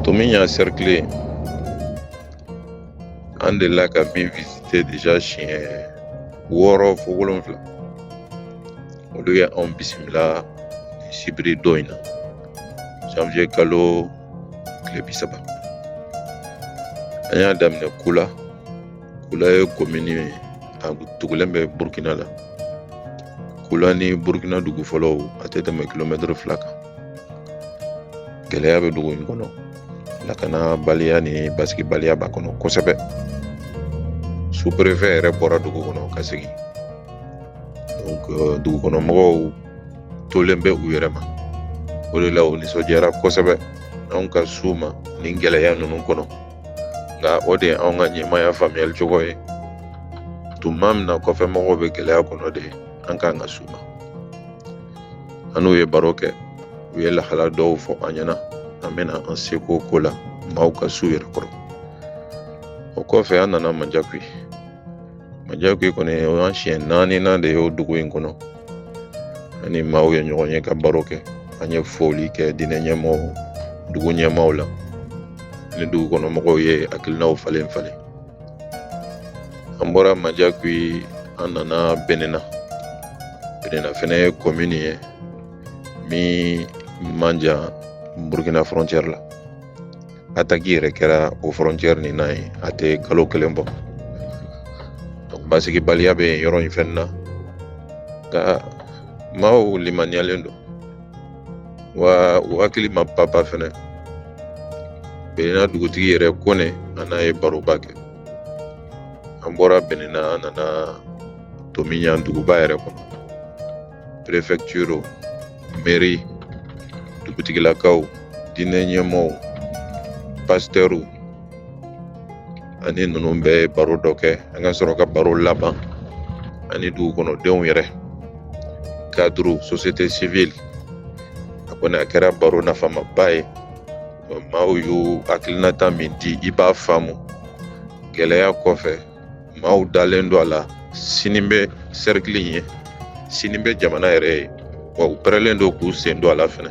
Tomiɲan cercle an delila ka min visite deja siɲɛ wɔɔrɔ fo wolonfila olu ye anw bisimila nin sibiridon in na janvier kalo tile bi saba an y'a daminɛ kula kula ye komini ye a tugulen bɛ burukina la kula ni burukina dugu fɔlɔw a tɛ tɛmɛ kilomɛtiri fila kan gɛlɛya bɛ dugu in kɔnɔ lakanabaliya ni basigibaliya b'a kɔnɔ kosɛbɛ superefe yɛrɛ bɔra dugu kɔnɔ ka segin euh, dugu kɔnɔ mɔgɔw tolen bɛ u yɛrɛ ma o de la u nisɔndiyara kosɛbɛ anw ka s'u ma nin gɛlɛya ninnu kɔnɔ nka o de ye anw ka ɲɛmaya faamuyali cogo ye tuma min na kɔfɛ mɔgɔw bɛ gɛlɛya kɔnɔ de an kan ka s'u ma an n'u ye baro kɛ u ye lahala dɔw fɔ an ɲɛna an bɛna an seko k'o la maaw ka s'u yɛrɛ kɔrɔ o kɔfɛ an nana manjakuyi manjakuyi kɔni o y'an siɲɛ naani na de y'o dugu in kɔnɔ an ni maaw ye ɲɔgɔn ye ka baro kɛ an ye foli kɛ diinɛ ɲɛmaaw dugu ɲɛmaaw la ni dugu kɔnɔ mɔgɔw ye hakilinaw falen falen an bɔra manjakuyi an nana benena benena fɛnɛ ye komini ye min man jan burukina fɔrɔncɛri la ataki yɛrɛ kɛra o fɔrɔncɛri nin na yen a tɛ kalo kelen bɔ basigibaliya bɛ yen yɔrɔ in fɛnɛ na nka maaw limaniyalen don wa u hakili ma papa fɛnɛ benena dugutigi yɛrɛ kone an n'a ye baroba kɛ an bɔra benena an nana tomiɲan duguba yɛrɛ kɔnɔ prefɛtiri mɛri dugutigilakaw diinɛ ɲɛmaaw pasitɛriw an ni ninnu bɛ baro dɔ kɛ an ka sɔrɔ ka baro laban ani dugu kɔnɔdenw yɛrɛ kadiri sosiyete sivili a kɔni a kɛra baro nafamaba ye maaw y'u hakilinata min di i b'a faamu gɛlɛya kɔfɛ maaw dalen don a la sini bɛ sɛrikili in ye sini bɛ jamana yɛrɛ ye wa u pɛrɛlen don k'u sen don a la fɛnɛ